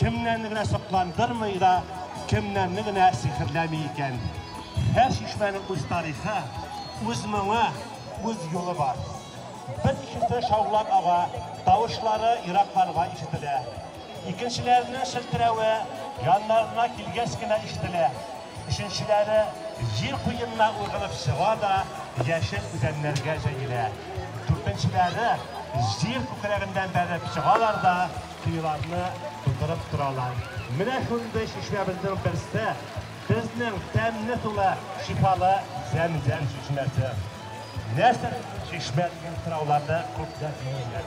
Кемнәрне генә сокландырмый да, кемнәрне генә сихерләми икән. Һәр чишмәнең үз тарихы, үз моңы, үз юлы бар. Бер кешесе шаулап ага, тавышлары еракларга ишетелә. Икенчеләренең челтерәве яннарына килгәч кенә ишетелә. Өченчеләре җир куенына ургылып чыга да яшел үзәннәргә җәелә. Дүртенчеләре җир күкрәгеннән бәреп чыгалар да Коеларны тутырып торалар. Менә шундый чишмәбезнең берсе, безнең тәмле сулы, шифалы Зәмзәм чишмәсе. Нәрсә ул чишмә дигән сорауларны күпләр биргәннәр.